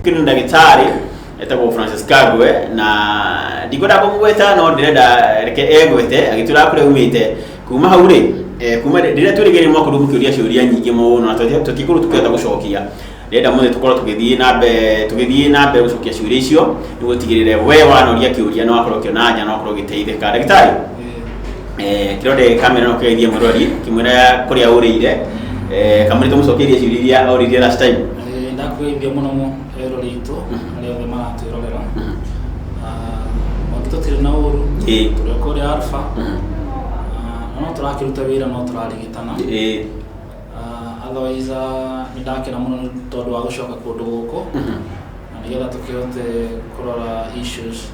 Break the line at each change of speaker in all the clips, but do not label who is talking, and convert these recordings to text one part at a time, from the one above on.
kino ndagĩtarĩ etagwo francis kagwe na ndikwenda kũmũgweta no ndĩrenda reke egwete agĩtũra kũrĩa umĩte kuma hau rĩ eh, kuma rĩ- rĩrĩa twĩrĩgĩrĩire nĩ mwakorirwo mũkĩũria ciũria nyingĩ mũno na tũti- tũtikorwo tũkĩhota gũcokia ndĩrenda mũthĩ tũkorwo tũgĩthiĩ na mbere tũgĩthiĩ na mbere gũcokia ciũria icio nĩguo tigĩrĩre we wanoria kĩũria na wakorwo ũkĩona anja na wakorwo ũgĩteithĩka ndagĩtarĩ eh, kĩrore kamera no kĩgeithie mũrori kĩmwĩra kũrĩa ũrĩire eh, kamũrĩ tũmũcokeirie ciũria iria oririe last time ndakwĩithia mũno mũno rero ritũ arĩa othe maratwĩrorera mangĩtũtirĩ na ũru Ĩĩ. tũrĩ o kũrĩa alfa Mhm. Ah, no tũrakĩruta wĩra no tũrarigitana Ĩĩ. Ah, otherwise ah, nĩ ndakena mũno nĩ tondũ wa gũcoka kũndũ gũkũ Mhm. na nĩgetha tũkĩhote kũrora issues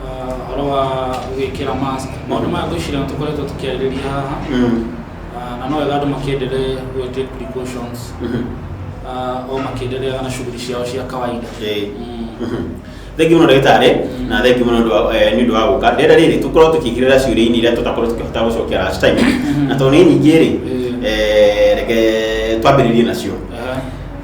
ũhoro wa gwĩkĩra mask maũndũ maya ngwĩciria nĩ tũkoretwo tũkĩarĩrĩria haha Ah, na no wega andũ makĩendelee gwĩ take precautions Ah, o makĩendelee na shughuli ciao cia kawaida Okay. Mm. thengi muno ndagĩtarĩ na thengi muno nĩ ũndũ wa- eh, nĩ ũndũ wa gũka rĩera rĩrĩ tũkorwo tũkĩingĩrĩra ciũria-inĩ iria tũtakorwo tũkĩhota gũcokia last time na tondũ nĩ nyingĩ rĩ Mm. eh, reke twambĩrĩrie nacio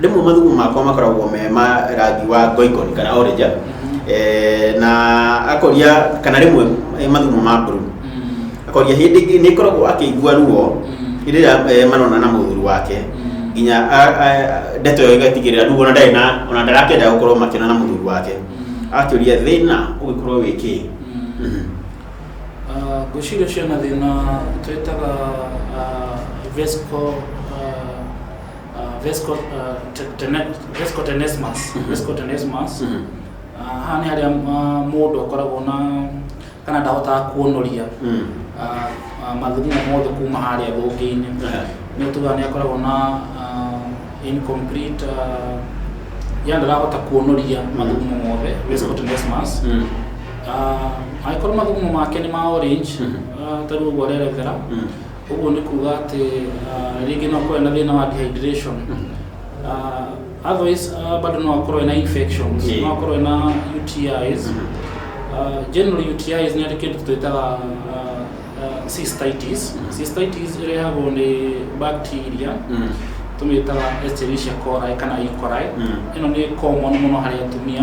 rĩmwe mathugumo makwa makoragwo me ma rangi wa ngoikoni kana orange eh, na akoria kana rĩmwe eh, mathugumo ma blue Mm. akoria hĩndĩ ĩngĩ nĩ koragwo akĩigua ruo Mm. hĩndĩ ĩrĩa eh, marona na mũthuri wake Mm. nginya a- a- ndeto ĩyo ĩgatigĩrĩra rĩu ona ndarĩ na ona ndarakĩenda gũkorwo makĩona na mũthuri wake Mm. akĩũria thĩna ũgĩkorwo wĩ kĩ Mm. Mhm. Ah, ngwĩciria ũcio na thĩna twĩtaga ah, vesical ah, uh, vesco uh, te- tene- vesco tenesmus vesco tenesmus Mhm. Uh, haha nĩ harĩa uh, mũndũ akoragwo na kana ndahotaga kuonoria Mm. uh, uh, mathugumo mothe kuma harĩa thũngĩ-inĩ Aha. nĩ tuga nĩ akoragwo na uh, incomplete uh, yani ndarahota kuonoria mathugumo mothe vesco tenesmus Mm. Ah, angĩkorwo mathugumo make nĩ ma orange Mhm. ah, ta rĩu ũguo arerethera Mm. ũguo nĩ kuga atĩ ah, rĩngĩ no akorwo ena thĩna wa dehydration Ah, otherwise ah, bado no akorwo ena infections Yeah. no akorwo ena UTIs Mhm. Ah, generally UTIs nĩ arĩ kĩndũ twĩtaga ah, ah, cystitis Mhm. cystitis ĩrehagwo nĩ bacteria Mm. tũmĩtaga Escherichia coli kana E. coli Mm. ĩno nĩ common mũno harĩ atumia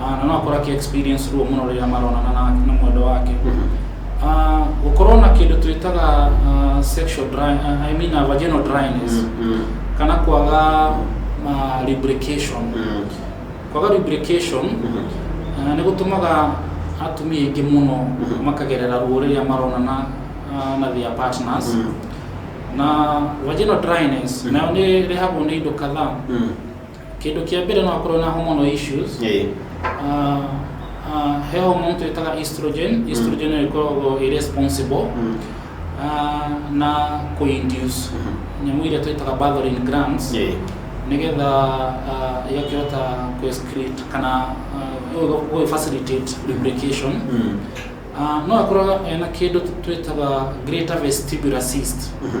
ah, na no akorwo akĩ experience ruo mũno rĩrĩa maronana na, na mwendo wake Ah, gũkorwo na kĩndũ twĩtaga ah, sexual dry, ah, I mean, ah, vaginal dryness Mm, kana kwaga ah, lubrication mm, kwaga lubrication mm, ah, nĩ gũtũmaga atumia aingĩ mũno Mhm. makagerera ruo rĩrĩa maronana ah, na their partners mm, na vaginal dryness Mhm. nayo nĩ rehagwo nĩ indo kadhaa mm, Kĩndũ kĩa mbere no akorwo na hormonal issues. Ĩĩ. Ah, ah, he hormone twĩtaga estrogen. Estrogen nĩyo ĩkoragwo ĩ responsible Mm. ah, na kũ induce Mhm. nyamũ iria twĩtaga Bartholin glands Ĩĩ. nĩgetha ah, ĩgakĩhota kũ excrete kana gũ facilitate lubrication. Mm. Ah, no akorwo ena kĩndũ twĩtaga greater vestibular cyst. Mhm.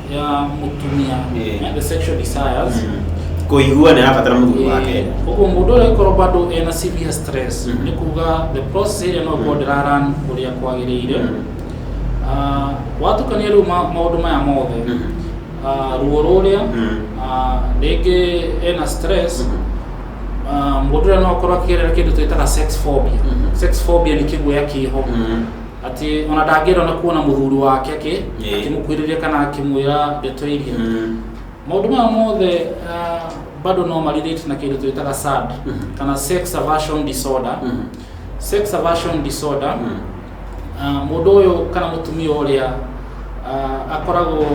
ya mutumia Yeah. and the sexual desires kũigua nĩ arabatara mũthuri wake Eh, ũguo mũndũ ũrĩa korwo bado ena severe stress Mhm. nĩ kuga the process ĩrĩa no korwo ndĩraran ũrĩa kwagĩrĩire Mhm. Ah, watukania rĩu ma- maũndũ maya mothe Mhm. Ah, ruo rũrĩa Mhm. ah, rĩngĩ ena stress Mhm. ah, mũndũ ũrĩa no akorwo akĩgerera kĩndũ twĩtaga sex phobia Mhm. sex phobia nĩ kĩguoya kĩho Mhm. atĩ ona ndangĩenda ona kuona mũthuri wake akĩ Ĩĩ. akĩmũkuhĩrĩria kana akĩmwĩra ndeto iria Mm. maũndũ maya mothe ah, bado no marirĩte na kĩndũ twĩtaga sad kana sex aversion disorder Mhm. sex aversion disorder Mm. Ah, mũndũ ũyũ kana mũtumia ũrĩa ah, akoragwo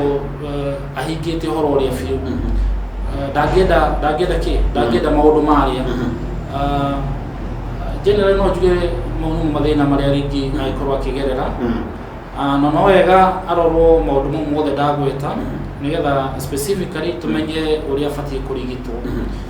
eh, ahingĩte ũhoro ũrĩa biũ Mhm. Ah, ndangĩenda ndangĩenda kĩ ndangĩenda maũndũ marĩa Mhm. Ah, generally no njuge mau nĩmo mathĩna marĩa rĩngĩ angĩkorwo akĩgerera Mhm. Ah, na no wega arorwo maũndũ mau mothe ndagweta Mhm. nĩgetha specifically tũmenye ũrĩa abatiĩ kũrigitwo Mhm.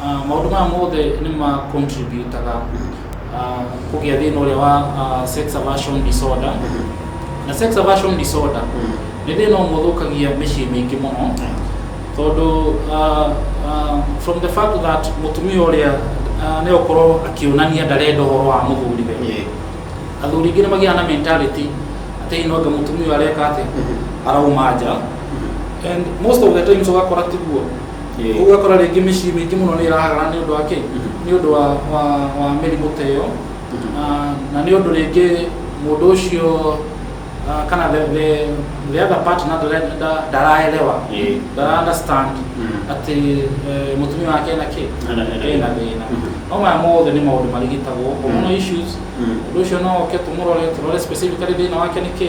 Ah, maundu maya mothe ni ma contributaga ah, kugia thina uria wa ah, sex aversion disorder na sex aversion disorder ni thina umwe uthukagia micii mingi muno tondu ah, ah, from the fact that mutumia uria ah, ni ukorwo akionania ndarenda uhoro wa muthuriwe athuri ingĩ nĩ magĩaga na mentality atĩ hihi no anga mũtumia ũyũ areka atĩ arauma nja and most of the times ũgakora tiguo Ĩĩ. koguo ũgakora rĩngĩ mĩciĩ mĩingĩ mũno nĩ ĩrahagana nĩ ũndũ wa kĩĩ nĩ ũndũ wa, wa, wa mĩrimũ ta ĩyo na, na nĩ ũndũ rĩngĩ mũndũ ũcio ah, kana the, the, the other partner ndare- nda- ndaraelewa Ĩĩ. ndara understand Mm. atĩ eh, mũtumia wake ena kĩ Ena- ena- ena thĩna Mhm. no maya mothe nĩ maũndũ marigitagwo hormonal issues Mm. ũndũ ũcio no oke tũmũrore tũrore specifically thĩna wake nĩ kĩ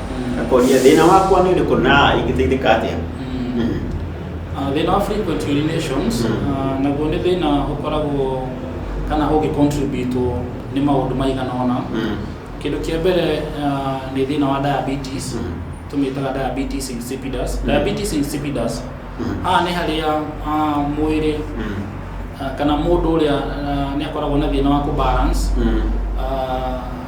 Mm. akoria thĩna wakwa nĩ ũrĩkũ na ingĩteithĩka atĩa Mm. Mm. Uh, thĩna wa frequent urinations Mm. uh, naguo nĩ thĩna ũkoragwo kana ũngĩcontributwo nĩ maũndũ maigana ona Mm. kĩndũ kĩa mbere uh, nĩ thĩna wa diabetes Mm. tũmĩtaga diabetes insipidus Mm. diabetes insipidus Mm. haha nĩ harĩa uh, mwĩrĩ Mm. uh, kana mũndũ ũrĩa uh, nĩ akoragwo na thĩna wa kũbalance Mm. uh,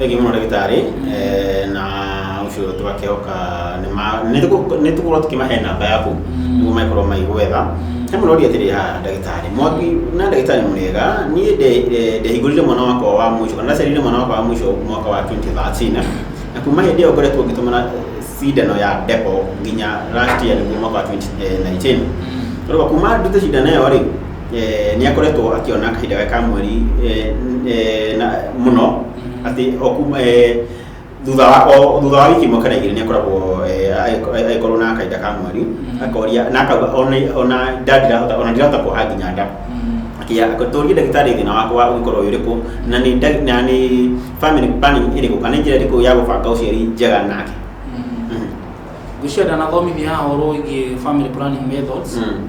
Rĩngĩ mũno ndagĩtarĩ eh, na ũcio tũgakĩoka nĩ ma- nĩ tũgũ- nĩ tũgũkorwo tũkĩmahe namba yaku nĩguo magĩkorwo magĩgwetha he mũno ũria atĩrĩ ha ndagĩtarĩ mwangi na ndagĩtarĩ mwega niĩ nde- nde- ndehingũrire mwana wakwa wa mũico kana ndaciarire mwana wakwa wa mũico mwaka wa 2013 na kuma hĩndĩ ĩyo ngoretwo ngĩtũmana cindano ya depo nginya last year nĩguo mwaka wa 2019 Rĩu kuma ndute cindano ĩyo rĩ eh, nĩ akoretwo akĩona kahinda gaka ka mweri eh, eh, na- mũno atĩ o kuma eh, thutha wa o- thutha wa wiki ĩmwe kana igĩrĩ nĩ akoragwo eh, agĩko- agĩkorwo na kahinda ka mweri Mhm. akoria na akauga ona ona nda ndirahota ona ndirahota kuoha nginya nda akia akatũria ndagĩtarĩ thĩna wakwa wa ũgĩkorwo wĩ ũrĩkũ na nĩ nda- na nĩ family planning ĩrĩkũ kana njĩra ĩrĩkũ ya gũbanga ũciari njega nake Mhm. ngwĩciria ndanathomithia ũhoro wĩgiĩ family planning methods Mm.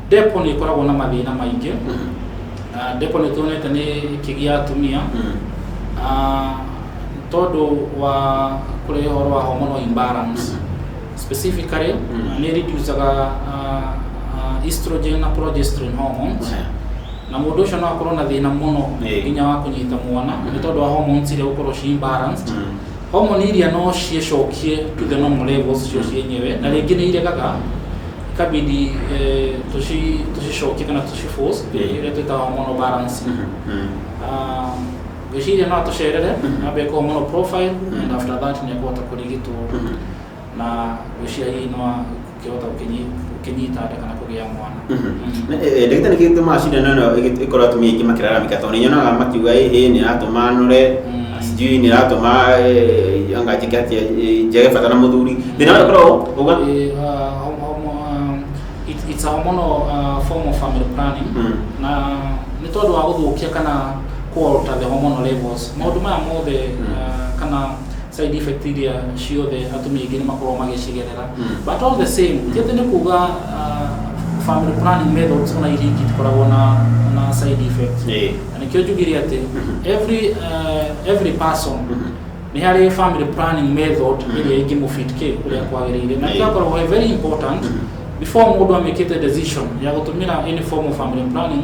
Depo nĩ ĩkoragwo na mathĩna maingĩ. Na Depo nĩ tuonete nĩ ĩkĩgia atumia ah, tondũ wa kũrehe ũhoro wa hormonal imbalance. Specifically, nĩ ĩreducaga ah, ah, estrogen na progesterone hormones. Ehe. Na mũndũ ũcio no akorwo na thĩna mũno Ĩĩ. nginya wa kũnyita mwana nĩ tondũ wa hormones iria gũkorwo ci imbalanced. Homoni iria no ciĩcokie to the normal levels cio cienyewe, na rĩngĩ nĩ iregaga ikabidi eh, tũci- tũcicokie kana tũciforce Mm. iria twĩtaga hormonal balance Mhm. Mm. Ah, gwĩciria no atũcerere Mhm. ambe ĩkwo hormonal profile Mhm. and after that nĩ ekũhota kũrigitwo Mhm. na gwĩciria hihi no a- ngĩhota gũkĩnyita nda kana kũgĩa mwana ndagĩtarĩ kĩndũ tũmaga cindano ĩno ĩgĩ- ĩkorwo atumia aingĩ makĩraramĩka tondũ nĩnyonaga makiuga ĩhĩ nĩ ĩratũma nũre Mm. sijui nĩ ĩratũma eh, anga njĩke atĩa eh, njage bata na mũthuri thĩna ũrĩa ũkoragwo uga Eh, ah, hom- hom- ah, it's- it's a hormonal ah, form of family planning Mm. na nĩ tondũ wa gũthũkia kana kũalter the hormonal levels maũndũ maya mothe Mm. ah, kana side effect iria ciothe atumia aingĩ nĩ makoragwo magĩcigerera but all the same ti atĩ nĩ kuga uh, family planning methods ona iria ingĩ itikoragwo na na side effect Ĩĩ. na nĩkĩo njugire atĩ every uh, every person nĩ harĩ family planning method ĩrĩa ingĩmũfit kĩ kũrĩa kwagĩrĩire na Ĩĩ. ĩgakoragwo ĩ very important before mũndũ amĩkĩte decision ya gũtũmĩra any form of family planning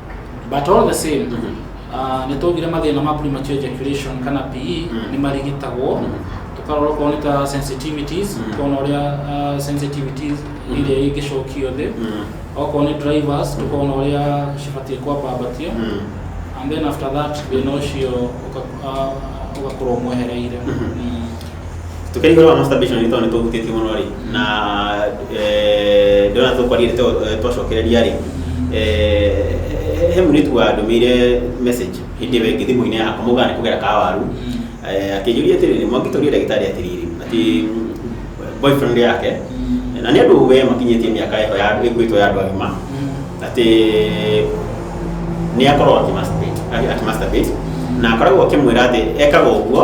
but all the same ah, nĩ twaugire mathĩna ma premature ejaculation kana PE Mm. nĩ marigitagwo Mm. tũkarora okorwo nĩ ta sensitivities Mm. tũkona ũrĩa ah, sensitivities Mm. iria ingĩcokio thĩ Mm. okorwo nĩ drivers tũkona ũrĩa cibatiĩ kwambambatio Mm. and then after that thĩna ũcio ũka- ah, ũgakorwo mwehereire Mhm. Mm. tũkĩringana na masturbation nĩ tondũ nĩ tũhutĩtie mũno rĩ na eh, ndona tũkwaria eh, twacokereria rĩ eh, he mũirĩtu wa ndũmĩire message hĩndĩ ĩyo ĩngĩ thimũ-inĩ yakwa mũgana kũgera kawaru akĩnjũria atĩrĩrĩ mwangĩtoria ndagĩtarĩ atĩrĩrĩ atĩ boyfriend yake na nĩ andũ we makinyĩtie mĩaka ĩho ĩkuĩtwo ya andũ agima atĩ nĩ akorwo akĩmasturbate na akoragwo akĩmwĩra atĩ ekaga ũguo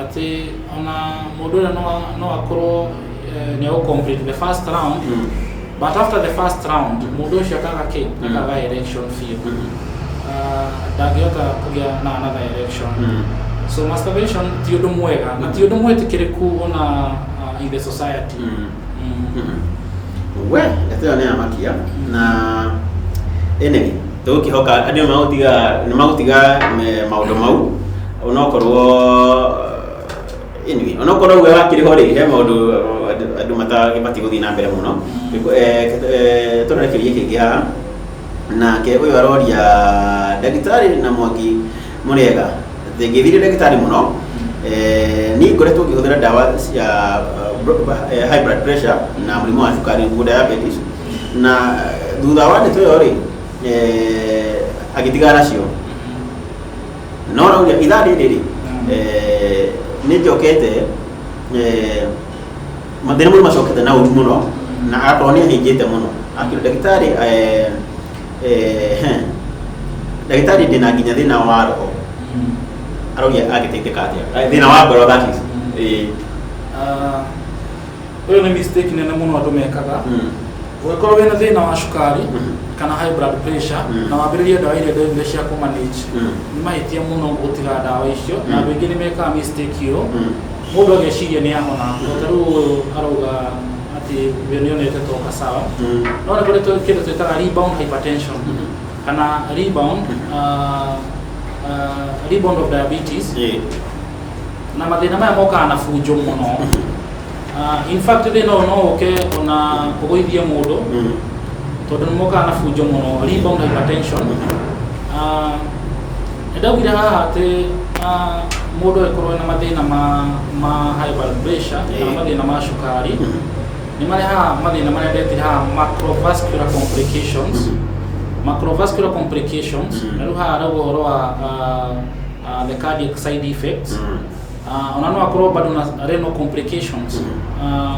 atĩ ona mũndũ ũrĩa no a- no akorwo eh, nĩ egũ complete the first round but after the first round mũndũ ũcio akaga kĩ akaga election biũ Ah, ndangĩhota kũgĩa na another election so masturbation ti ũndũ mwega na ti ũndũ mwĩtĩkĩrĩku ona ah, in the society we ndeto ĩyo nĩ ya makia na ĩnĩ tũgũkĩhoka andũ nĩ magũtiga nĩ magũtiga eh, maũndũ mau onokorwo eh, anyway onokorwo we wakĩrĩho rĩ he maũndũ eh, andũ matabatiĩ gũthiĩ na mbere mũno tũrore kĩũria kĩngĩ haha nake ũyũ aroria ndagĩtarĩ na mwangi Mũrĩega. Thĩngĩthire ndagĩtarĩ mũno. Eh, niĩ ngoretwo ngĩhũthĩra ndawa cia eh, high blood pressure na mũrimũ wa cukari nĩguo diabetes na eh, thutha wa ndeto ĩyo rĩ eh, agĩtigana nacio no rauria ithaa rĩrĩ rĩ eh, nĩ njokete eh, mathĩna mũno macokete na ũru mũno na agakorwo nĩ ahĩnjĩte mũno akĩrwo ndagĩtarĩ eh, Ehe. ndagĩtarĩ ndĩna nginya thĩna wa roho aroria agĩteithĩka atĩa Eh, thĩna wa ngoro that is Eh, Ah, ũyũ nĩ mistake nene mũno andũ mekaga mm, ũngĩkorwo wĩna thĩna wa cukari Mhm. kana high blood pressure Mhm. na wambĩrĩrie ndawa iria ndagĩtarĩ cia kũmanage mm, nĩ mahĩtia mũno gũtiga ndawa icio na Mhm. andũ aingĩ nĩ mekaga mistake ĩyo mm, mũndũ ageciria nĩ ahona tondũ rĩu ũyũ arauga atĩ we nĩ onete to ka sawa no nĩ kũrĩ tũ- kĩndũ twĩtaga rebound hypertension kana rebound ah, ah, rebound of diabetes Ĩĩ. na mathĩna maya mokaga na bunjo mũno Ah, in fact thĩna ũyũ no ũke ona kũgũithie mũndũ Mm. tondũ nĩ mokaga na bunjo mũno rebound hypertension Ah, Nĩ ndaugire haha atĩ mũndũ angĩkorwo ena mathĩna ma high blood pressure kana mathĩna ma cukari, nĩ marehaga mathĩna marĩa ndetire haha macrovascular complications. Macrovascular complications, na rĩu haha harauga ũhoro wa the cardiac side effects. Ah, ona no akorwo bado na renal complications Ah,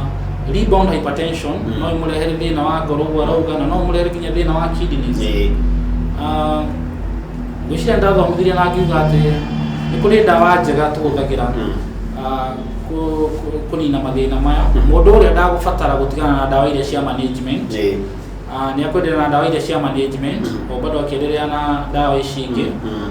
rebound hypertension Mm. no imũrehere thĩna wa ngoro ũguo arauga na no ũmũrehere nginya thĩna wa kidneys Nĩ- Ah, ngwĩciria ndathomithirie na ngiuga atĩ nĩ kũrĩ ndawa njega tũhũthagĩra Mm. ah, kũ- kũ- kũnina mathĩna maya Mm. mũndũ ũrĩa ndagũbatara gũtigana na ndawa iria cia management nĩ- Ah, nĩ akwendelea na ndawa iria cia management Mm. o bado akiendelea na ndawa ici ingĩ Mm.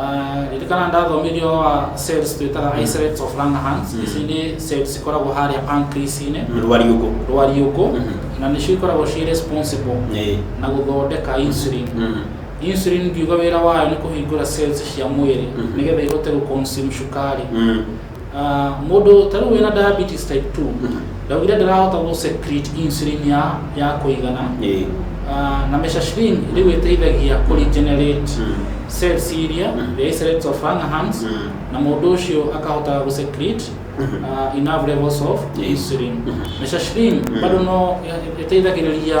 Ah, ririkana ndathomirie ũhoro wa cells twĩtaga islets of Langerhans ici nĩ cells cikoragwo harĩa pancreas-inĩ rwariũngũ rwariũngũ Mhm. na nĩcio ikoragwo ciĩ responsible Ĩĩ. na gũthondeka insulin Mhm. insulin ngiuga wĩra wayo nĩ kũhingũra cells cia mwĩrĩ Mhm. nĩgetha ihote gũconsume cukari Mm. Ah, mũndũ ta rĩu wĩna diabetes type 2 ndaugire ndarahota gũ secrete insulin ya ya kũigana Ĩĩ. Ah, na meshashrin rĩu ĩteithagia kũ regenerate Mm. cells iria Mm. the islets of Langerhans Mm. na mũndũ ũcio akahota gũ secrete Mhm. ah, enough levels of Yes. insulin Mhm. meshashrin Mm. bado no ĩteithagĩrĩria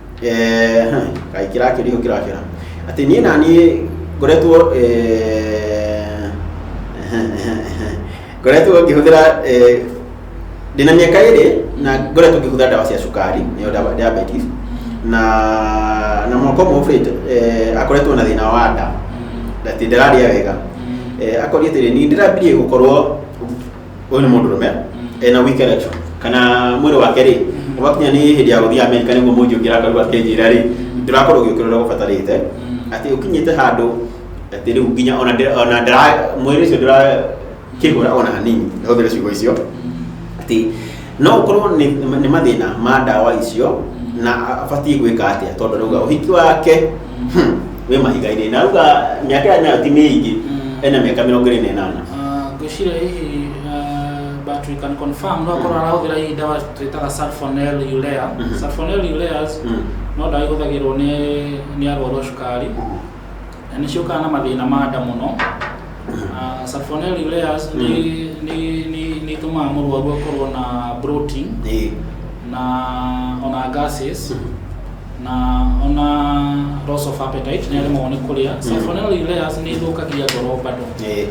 Eh, heh, kaĩ kĩrakĩra ihu kĩrakĩra atĩ niĩ na niĩ ngoretwo eh, ehe, ehe, ehe. ngoretwo ngĩhũthĩra eh, ndĩ na mĩaka ĩrĩ na ngoretwo ngĩhũthĩra ndawa cia cukari nĩyo ndawa- diabetes na na mwaka ũmwe ũbĩte eh, akoretwo na thĩna wa nda atĩ ndararĩa wega Eh, akoria atĩrĩ niĩ ndĩrambirie gũkorwo ũyũ nĩ mũndũ rũme ena weak erection kana mwĩrĩ wake rĩ ũgakinya nĩ hĩndĩ ya gũthiĩ Amerika nĩguo mũnji ũngĩra karua kenjĩra rĩ ndũrakorwo ũgĩũkĩra ũrĩa ũbatarĩte atĩ ũkinyĩte handũ atĩ rĩu nginya ona ndĩra- ona ndara- mwĩrĩ ũcio ndũrakĩhũra ona hanini hũthĩre ciugo icio atĩ no ũkorwo nĩ nĩ mathĩna ma ndawa icio na abatiĩ gwĩka atĩa tondũ rauga ũhiki wake hmm, wĩ mahiga-inĩ na rauga mĩaka ĩyo nayo ti mĩingĩ Mm. ena mĩaka mĩrongo ĩrĩ na ĩnana Ah, ngwĩciria hihi ah, but we can confirm no akorwo arahũthĩra hihi ndawa twĩtaga sulfonel urea Mhm. sulfonel ureas Mm. no ndawa ihũthagĩrwo nĩ nĩ arwaru a cukari Na nĩ ciũkaga na mathĩna ma nda mũno. Ah, Salmonella ureas nĩ nĩ- nĩ- nĩ itũmaga mũrwaru akorwo na bloating Ĩĩ. na ona gases na ona loss of appetite nĩ aremagwo nĩ kũrĩa. Salmonella ureas nĩ ĩthũkagia ngoro bado. Ĩĩ.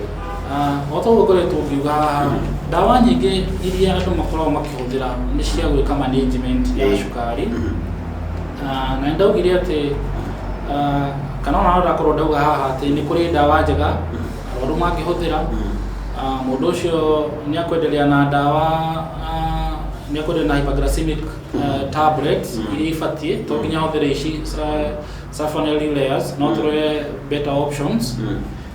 Ah, o ta ũguo ngoretwo ngiuga haha, ndawa nyingĩ iria andũ makoragwo makĩhũthĩra nĩ cia gwĩka management ya Ĩĩ. cukari. Ah, na ndaugire atĩ ah, kana ona no ndakorwo ndauga haha atĩ nĩ kũrĩ ndawa njega arwaru mangĩhũthĩra Ah, mũndũ ũcio nĩ akwenderea na ndawa ah, nĩ akwenderea na hyperglycemic ah, tablets iria ibatiĩ to nginya ahũthĩre ici sa- sulfonylureas no tũrore better options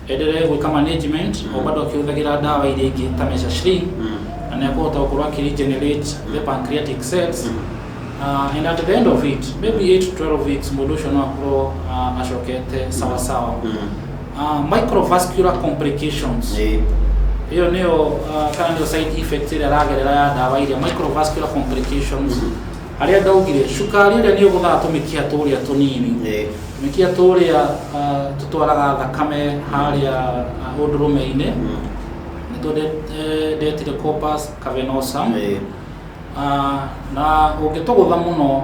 Enderee gwĩka management o bado akĩhũthagĩra ndawa iria ingĩ ta Mesha-Shree na nĩ akũhota gũkorwo akĩ regenerate the pancreatic cells uh, and at the end of it maybe 8 to 12 weeks mũndũ ũcio no akorwo uh, acokete sawa sawa uh, microvascular complications Ĩĩ. ĩyo nĩyo uh, kana nĩyo side effect ĩrĩa aragerera ya ndawa iria microvascular complications Harĩa ndaugire, cukari ũrĩa nĩ ũgũthaga tũmĩkiha tũrĩa tũnini. Ĩĩ. Tũmĩkiha tũrĩa ah, tũtwaraga thakame harĩa ah, ũndũrũme-inĩ. Nĩtuo nde- eh, ndetire corpus cavernosum. Ĩĩ. Ah, na ũngĩtũgũtha mũno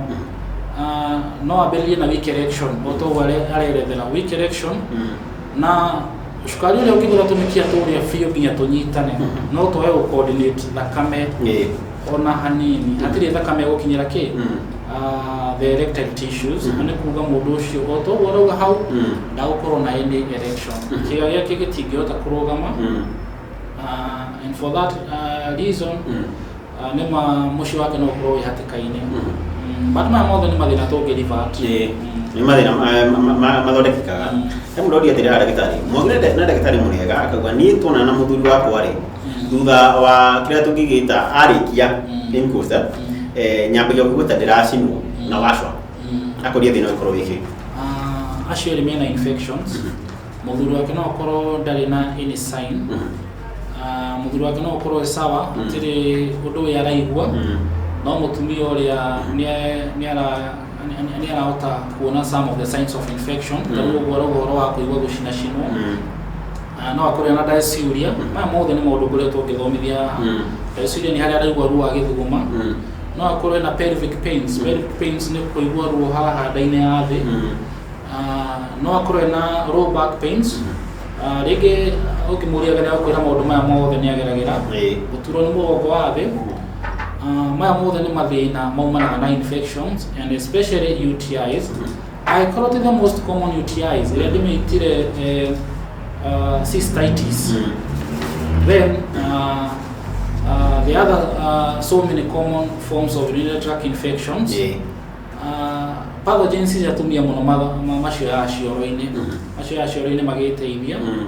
ah, no ambĩrĩrie na weak erection o ta ũguo are- arerethera weak erection na cukari ũrĩa ũngĩgũtha tũmĩkiha tũrĩa biũ nginya tũnyitane no twage gũ coordinate thakame Ĩĩ. ona hanini hatirĩ thakame gũkinyĩra kĩ Ah, the erectile tissues na nĩ kuga mũndũ ũcio o to ũguo arauga hau ndagũkorwo na any erection kĩga gĩake gĩtingĩhota kũrũgama Ah, and for that ah, reason ah, nĩ ma mũciĩ wake no ũkorwo wĩ hatĩka-inĩ Mm, but maya mothe nĩ mathĩna tũngĩ revert nĩ mathĩna ma- ma- ma- mathondekekaga he mũndũ ũria atĩrĩ haha ndagĩtarĩ mwagire na ndagĩtarĩ mũrĩega akauga niĩ tuonana na mũthuri wakwa rĩ thutha wa kä rä a tå ngä gä ta arä kia nyambagia kuga ta ndä racinwo na wacwa akoria thä na å korwo wä kä Ah, acio erĩ mena infections mũthuri wake no akorwo ndarĩ na any sign Ah, mũthuri wake no akorwo e sawa gũtirĩ ũndũ ũyũ araigua no mũtumia ũrĩa nĩ- nĩ ara- nĩ- nĩ arahota kuona some of the signs of infection tarĩu ũguo arauga ũhoro wa kũigua gũcinacinwo Ah, no akorwo ena ndeciria maya mothe nĩ maũndũ ngoretwo ngĩthomithia haha Mm. ndeciria nĩ harĩa araigua ruo agĩthuguma Mm. no akorwo ena pelvic pains pelvic pains nĩ kũigua ruo haha nda-inĩ ya thĩ Mm. Ah, no akorwo ena low back pains Ah, rĩngĩ ũngĩmũria wega nĩagũkwĩra maũndũ maya mothe nĩ ageragĩra Ĩĩ. gũturwo nĩ mũgongo wa thĩ Ah, maya mothe nĩ mathĩna maumanaga na infections and especially UTIs Angĩkorwo ti the most common UTIs ĩrĩa ndĩmĩtire eh, uh, cystitis Mm. then uh, uh, the other uh, so many common forms of urinary tract infections Yeah. uh, pathogens cia tumia mũno ma- ma- macio ya cioro-inĩ Mhm. macio ya cioro-inĩ magĩteithia Mm.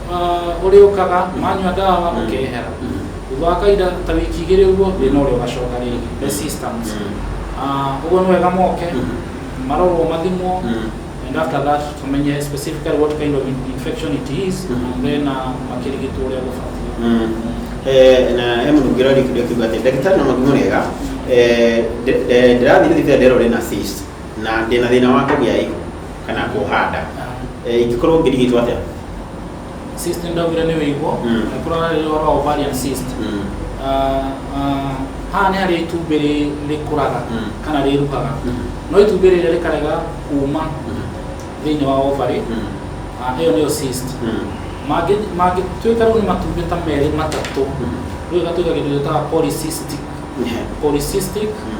Uh, ũrĩ ũkaga manyua ndawa mm. ũkehera thutha wa kahinda ta wiki igĩrĩ ũguo mm. thĩna ũrĩa ũgacoka rĩngĩ the mm. systems uh, ũguo nĩ wega moke marorwo mathimwo and after that tumenye specifically what kind of infection it is and then uh, makĩrigitwo ũrĩa gũbatiĩ eh, na he mũndũ ũngĩ ũrarĩkĩrio kiuga atĩ ndagĩtarĩ na magumo rĩega eh, ndĩrathiĩ thibitarĩ nderwo rĩ na cyst na ndĩ na thĩna wa kũgĩa ihu kana kuoha nda Eh, ingĩkorwo ngĩrigitwo atĩa cyst ndovire nĩ wĩigwo Mm. na kũrora rĩrĩa ũhoro wa ovarian cyst Mm, Ah, ah, haha nĩ harĩa itumbĩ rĩ- rĩkũraga Mm. kana rĩruhaga mm, no itumbĩ rĩrĩa rĩkarega kuma mm, thĩinĩ wa ovary mm, ah, ĩyo nĩyo cyst mm, Mangĩ- mangĩtuĩka rĩu nĩ matumbĩ ta merĩ matatũ mm. rĩu ĩgatuĩka kĩndũ gĩtaga polycystic Yeah. polycystic Mm.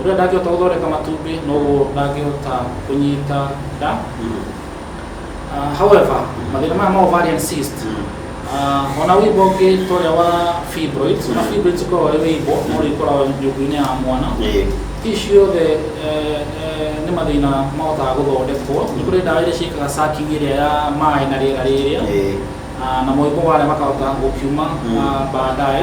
Ũrĩa ndangĩhota gũthondeka matumbĩ noguo ndangĩhota kũnyita nda. Uh, however, mathĩna maya ma ovarian cyst uh, ona wĩimbo ũngĩ ta ũrĩa wa fibroids ona fibroids ũkoragwo wĩ wĩimbo no ũrĩkoragwo nyũngũ-inĩ ya mwana Ĩĩ. ici ciothe eh, eh, nĩ mathĩna mahotaga gũthondekwo nĩ kũrĩ ndawa iria ciĩkaga sucking ĩrĩa ya maĩ na rĩera rĩrĩa Ĩĩ. Ah, na moimbo marĩa makahota gũkiuma Mm. ah, baadaye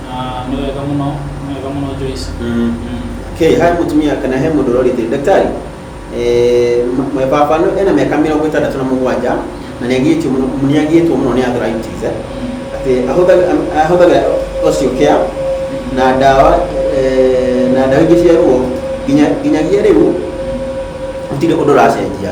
Ah, nĩ wega mũno nĩ wega mũno Joyce Mm. Mm. Okay, hai mutumia kana he mundu urorite daktari eh mwe baba no ena miaka mirongo itandatu na mugwanja na ni agitwo muno ni agitwo muno ni arthritis eh ati ahuthaga ahuthaga ocio kia na ndawa eh na ndawa ingĩ cia ruo nginya nginyagia rĩu gũtirĩ ũndũ ũracenjia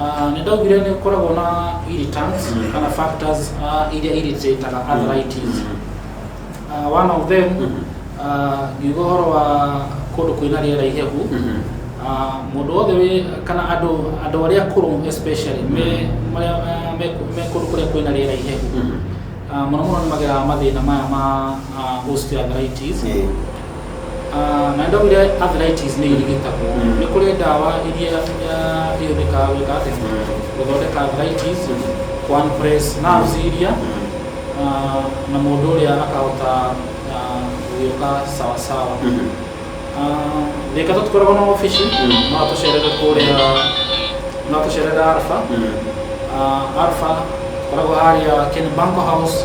Ah, nĩ ndaugire nĩ ũkoragwo na irritants Mm. kana factors ah, iria irritateaga arthritis Ah, one of them Mhm. ah, ngiuga ũhoro wa kũndũ kwĩna rĩera ihehu Mhm. Ah, mũndũ wothe wĩ kana andũ andũ arĩa akũrũ especially me marĩa ah, me me kũndũ kũrĩa kwĩna rĩera ihehu Mhm. Ah, mũno mũno nĩ mageraga mathĩna maya ma ah, osteoarthritis Yeah. Ah, na nĩ ndaugire arthritis nĩ irigitagwo nĩ kũrĩ ndawa iria ah, ihũthĩkaga gwĩka atĩ gũthondeka arthritis kwa press nerves iria ah, na mũndũ ũrĩa akahota ah, gũgĩũka sawasawa Ah, thĩka tũtikoragwo na obici no atũcerere kũrĩa no atũcerere alpha Ah, alpha koragwo harĩa ken banko house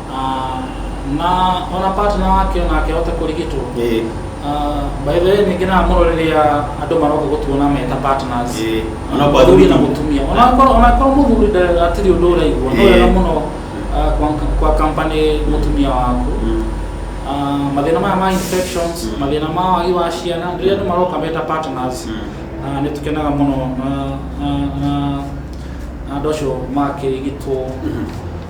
Ah, na ona partner wake onake ahote kũrigitwo Ĩĩ. Ah, by the way nĩ ngenaga mũno rĩrĩa andũ maroka gũtuona me ta partners Ĩĩ. Ona kwa mũthuri na athuri. mũtumia ona korwo ona korwo mũthuri nda- hatirĩ ũndũ ũraigua no Ĩĩ. wega mũno ah, kwa- kwa company mũtumia waku Mm. Ah, mathĩna maya ma infections Mm. mathĩna ma wagi wa ciana rĩrĩa andũ maroka me ta partners Mm. Ah, nĩ tũkenaga mũno na- na- na- na andũ acio makĩrigitwo Mhm.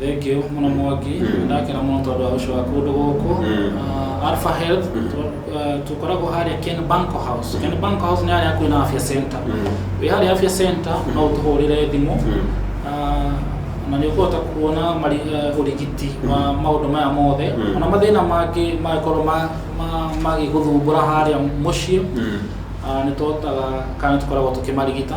Thank you mũno Mwangi, mm. ndakena mũno tondũ wa gũcoka kũndũ gũkũ mm. uh, Alpha Health mm. uh, tũkoragwo harĩa Ken Banko House. Ken Banko House nĩ harĩa kwĩna Afya Center. Wĩ harĩa Afya Center no ũtũhũrĩre thimũ uh, na nĩ ũkũhota kuona uh, ũrigiti wa maũndũ maya mothe ona mathĩna mangĩ mangĩkorwo magĩgũthumbũra harĩa mũciĩ uh, nĩ tũhotaga kana nĩ tũkoragwo tũkĩmarigita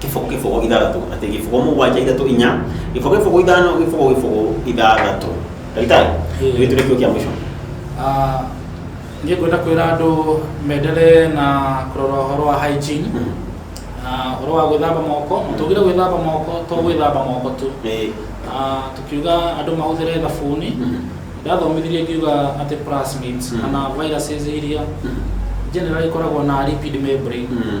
gĩboko gĩboko ithathatũ atĩ gĩboko mũgwanja ithatũ inya gĩboko gĩboko ithano gĩboko gĩboko ithathatũ ndagĩtarĩ Ĩĩ. nĩ tũrĩ kĩo kĩa mũico Ah, niĩ ngwenda kwĩra andũ menderee na kũrora ũhoro wa hygiene Mhm. na ũhoro wa gwĩthamba moko mũtũgire gwĩthamba moko to gwĩthamba moko tu Ĩĩ. Ah, tukiuga andũ mahũthĩre thabuni Mhm. ndathomithirie ngiuga atĩ plasmids Mhm. kana viruses iria Mhm. generally ikoragwo na lipid membrane Mhm.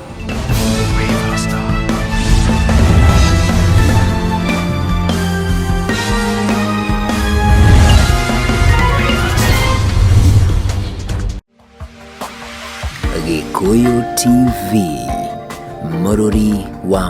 Gikuyu TV, Mururi wa